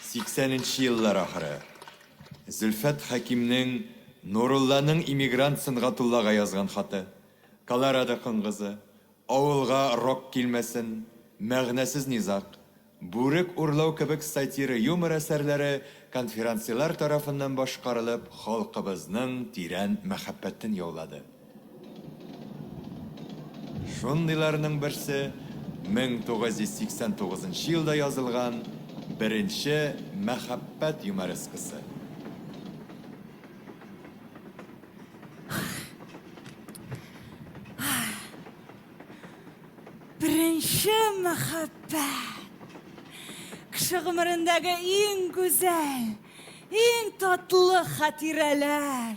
80 нче еллар ахыры. Зөлфәт Хәкимнең Нурулланың эмигрант Сөнгатуллага язган хаты, Колорадо коңгызы, Авылга рок килмәсен, Мәгънәсез низаг, Бүрек урлау кебек сатира юмор әсәрләре конферансьелар тарафыннан башкарылып халкыбызның тирән мәхәббәтен яулады. Шундыйларның берсе 1989 нчы елда язылган беренче Мәхәббәт юморескасы. Беренче мәхәббәт! Кеше гомерендәге иң гүзәл, иң татлы хатирәләр!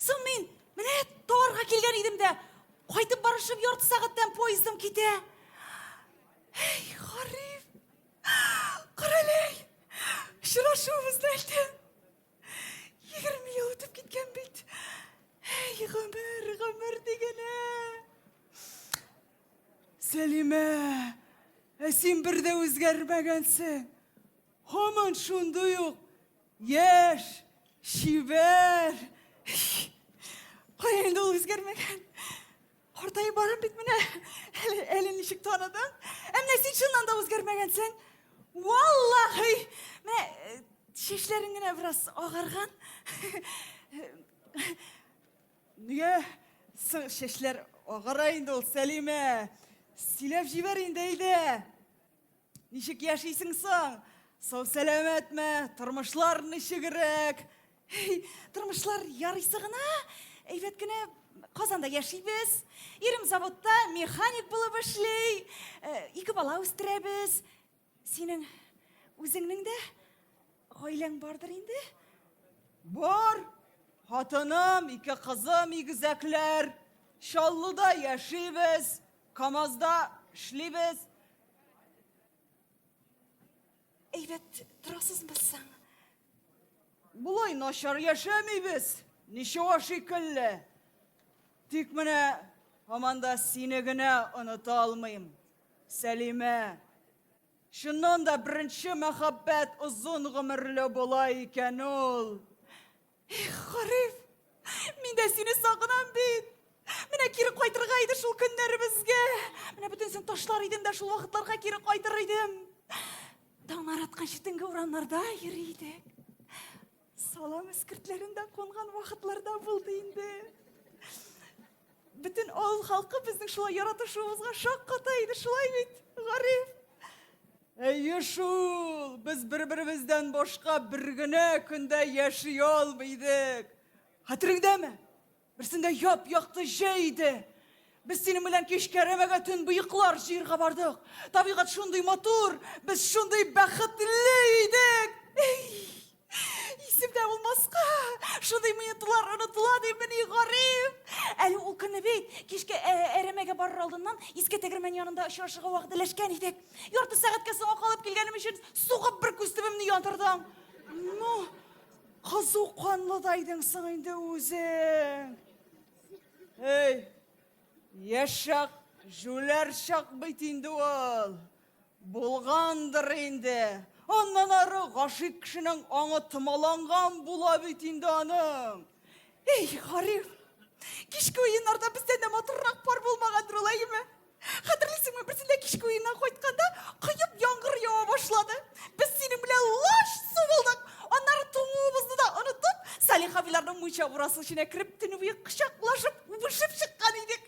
Соң мин менә Тарга килгән идем дә, кайтып барышым ярты сәгатьтән поездым китә. Эй, Гариф! Каралей! Очрашуыбыз әлдә. 20 ел үтеп киткән бит. Эй, гомер, гомер дигәнә. Сәлимә, ә син бер дә үзгәрмәгәнсең. Һаман шундый ук Яшь, чибәр. Кая инде ул үзгәрмәгән. Картаеп барам бит менә. Әле, әле ничек таныдың? Ә менә син чыннан да үзгәрмәгәнсең. Валлахи! Менә э, чәчләрең генә бераз агарган. Нигә соң чәчләр агара инде ул, Сәлимә? Сөйләп җибәр инде, әйдә. Ничек яшисең соң? Сау сәламәтме? Тормышлар ничегрәк? Тормышлар ярыйсы гына, әйбәт кенә Казанда яшибез. Ирем заводта механик булып эшли. Э, ике бала үстерәбез. Синең үзеңнең дә гаиләң бардыр инде? Бар. Хатыным, ике кызым, игезәкләр. Чаллыда яшибез. КАМАЗда эшлибез. Әйбәт торасызмы соң? Болай начар яшәмибез, ничего шикелле. Тик менә һаман да сине генә оныта алмыйм. Сәлимә. Чыннан да беренче мәхәббәт озын гомерле була икән ул. Эх, Гариф, мин дә сине сагынам бит. Менә кире кайтырга иде шул көннәребезгә. Менә бөтенсен ташлар идем дә шул вакытларга кире кайтыр идем. Таңнар атканчы төнге урамнарда йөри идек. Салам эскертләрендә кунган вакытларда булды инде. Бөтен авыл халкы безнең шулай яратышуыбызга шак ката иде, шулай бит, Гариф? Әйе шул, без бер-беребездән башка бер генә көндә яши алмый идек. Хәтереңдәме? Берсендә яп-якты җәй иде. Без синең белән кич кәрәмәгә төн быеклар җыерга бардык. Табигать шундый матур, без шундый бәхетле идек. Эй! Исемдә булмаска, шундый минутлар онытыла димени, Гариф. Әле ул көнне бит кичке әрәмәгә барыр алдыннан иске тегермән янында очрашырга вәгъдәләшкән идек. Ярты сәгатькә соңга калып килгәнем өчен сугып бер күз төбемне яндырдың. Ну, кызу канлы да идең соң инде үзең. Эй, яшак, җүләр чак бит инде ул. Булгандыр инде. Аннан ары гашыйк кешенең аңы томаланган була бит инде аның. Эй, Гариф, кичке уеннарда бездән дә матуррак пар булмагандыр ул, әйеме? Хәтерлисеңме, берсендә кичке уеннан кайтканда, коеп яңгыр ява башлады. Без синең белән лач су булдык. Аннары туңуыбызны да онытып, Салих абыйларның мунча бурасы эченә кереп, төне буе кочаклашып, үбешеп чыккан идек.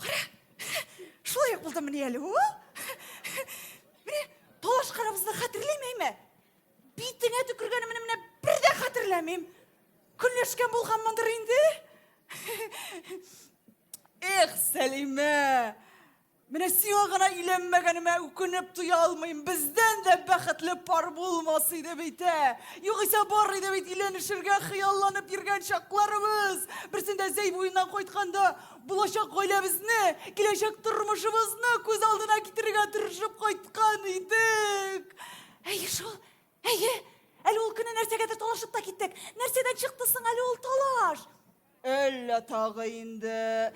Кара, шулай ук булды менә әле. Менә талаш карабызны хәтерләмәйме? Битеңә төкергәнем менә менә бер дә хәтерләмим. Көнләшкән булганмындыр инде. Эх, Сәлимә! Менә сиңа гына өйләнмәгәнемә үкенеп туя алмыйм. Бездән дә бәхетле пар булмас иде бит, ә? Югыйсә бар иде бит өйләнешергә хыялланып йөргән чакларыбыз. Берсендә Зәй буеннан кайтканда, булачак гаиләбезне, киләчәк тормышыбызны күз алдына китерергә тырышып кайткан идек. Әйе шул, әйе. Әле ул көнне нәрсәгәдер талашып та киттек. Нәрсәдән чыкты соң әле ул талаш? Әллә тагы инде.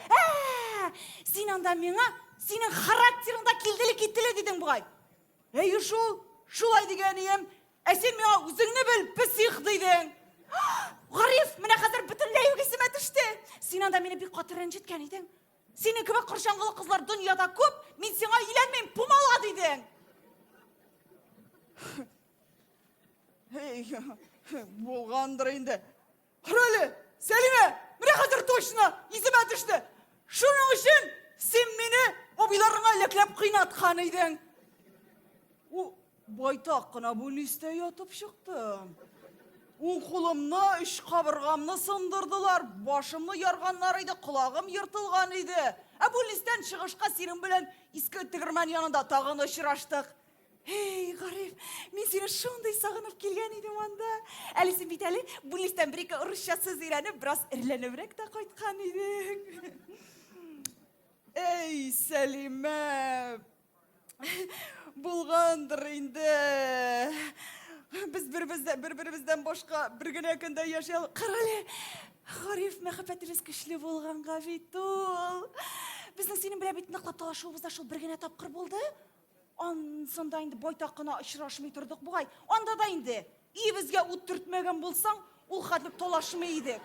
Ә! Син анда миңа синең характерыңда килделе-киттеле дидең бугай. Әйе шул, шулай дигән ием. Ә син миңа үзеңне бел, псих дидең. Гариф, менә хәзер бөтенләй үк исемә төште. Син анда мине бик каты рәнҗеткән идең. Синең кебек корчаңгылы кызлар дөньяда күп, мин сиңа өйләнмим, пумала дидең. Булгандыр инде. Карале, Сәлимә, менә хәзер точно исемә төште. Шуның өчен син мине абыйларыңа ләкләп кыйнаткан идең. У байтак кына бүлнистә ятып чыктым. Уң кулымны, үч кабыргамны сындырдылар, башымны ярганнар иде, колагым ертылган иде. Ә бүлнистән чыгышка сирем белән иске тегермән янында тагын очраштык. Эй, Гариф, мин сине шундый сагынып килгән идем анда. Әле син бит әле Буллистан бер-ике урысча сүз өйрәнеп, бераз ирләнебрәк тә кайткан идең. Эй, Сәлимә! Булгандыр инде. Без бер-бездән бер-беребездән башка бер генә көндә яши алдык. Карале, Гариф, мәхәббәтебез көчле булганга бит ул. Безнең синең белән бит ныклап талашуыбыз да шул бер генә тапкыр булды. Ансында инде байтак кына очрашмый тордык бугай. Анда да инде өебезгә ут төртмәгән булсаң, ул хәтле талашмый идек.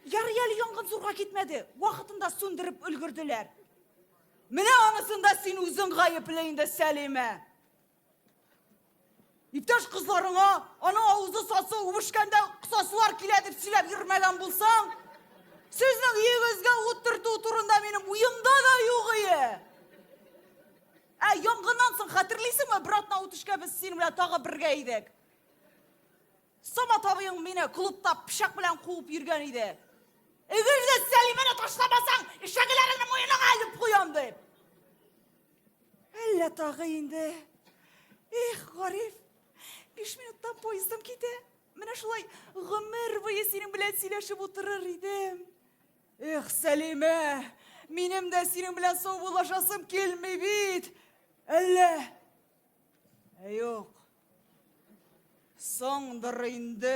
Ярый әле янгын зурга китмәде. Вакытында сүндереп өлгерделәр. Менә анысында син үзең гаепле инде, Сәлимә. Иптәш кызларыңа аның авызы сасы үбешкәндә кысасылар килә дип сөйләп йөрмәгән булсаң, сезнең өегезгә ут төртү турында минем уемда да юк ие. Ә янгыннан соң хәтерлисеңме, бер атна үтешкә без синең белән тагы бергә идек. Самат абыең мине клубта пычак белән куып йөргән иде. Эгелдә Сәлимәне ташламасаң, ишәгеләреңне муеныңа алып куям дип. Әллә тагы инде. Эх, Гариф, биш минуттан поездым китә. Менә шулай гомер буе синең белән сөйләшеп утырыр идем. Эх, Сәлимә, минем дә синең белән саубуллашасым килми бит. Әллә? Ә юк. Соңдыр инде.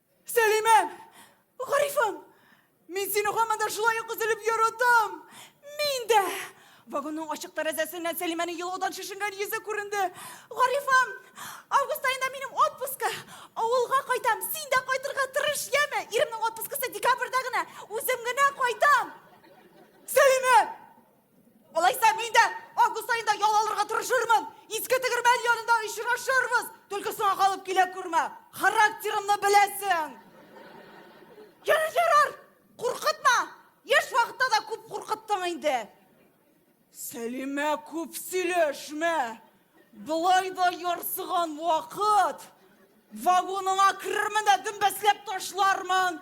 Сәлимә! Гарифым! Мин сине һаман да шулай ук өзелеп яратам! Мин дә! Вагонның ачык тәрәзәсеннән Сәлимәнең елаудан шешенгән йөзе күренде. Гарифым! Август аенда минем отпуска! Авылга кайтам! Син дә кайтырга тырыш, яме! Иремнең отпускасы декабрьдә генә! Үзем генә кайтам! Сәлимә! Алайса мин дә август айында ял алырга тырышырмын. Иске тегермән янында очрашырбыз. Только соңа калып килә күрмә. Характерымны беләсең. Ярар, ярар. Куркытма. Яшь вакытта да күп куркыттың инде. Сәлимә күп сөйләшмә. Былай да ярсыган вакыт. Вагоныңа керермен дә дөмбәсләп ташлармын.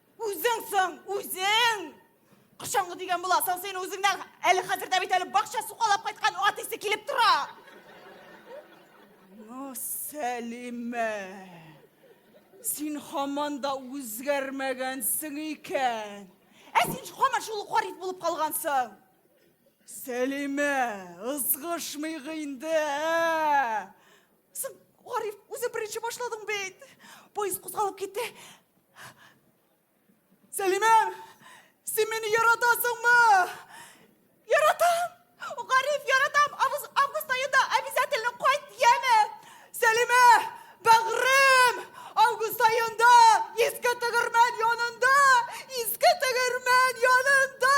Үзең соң, үзең! Кышаңгы дигән буласың син үзеңнән әле хәзердә бит әле бакча сугалап кайткан ат исе килеп тора. Ну, Сәлимә. Син хаман да үзгәрмәгәнсең икән. Ә син хаман шул гариф булып калгансың. Сәлимә, ызгышмыйк инде, ә? Син, Гариф, үзе беренче башладың бит. Поезд кузгалып китте. Сәлимә, син мине яратасыңмы? Яратам. Гариф, яратам. Август, август айында обязательно кайт, яме. Сәлимә, бәгърем, август айында иске тегермән янында, иске тегермән янында.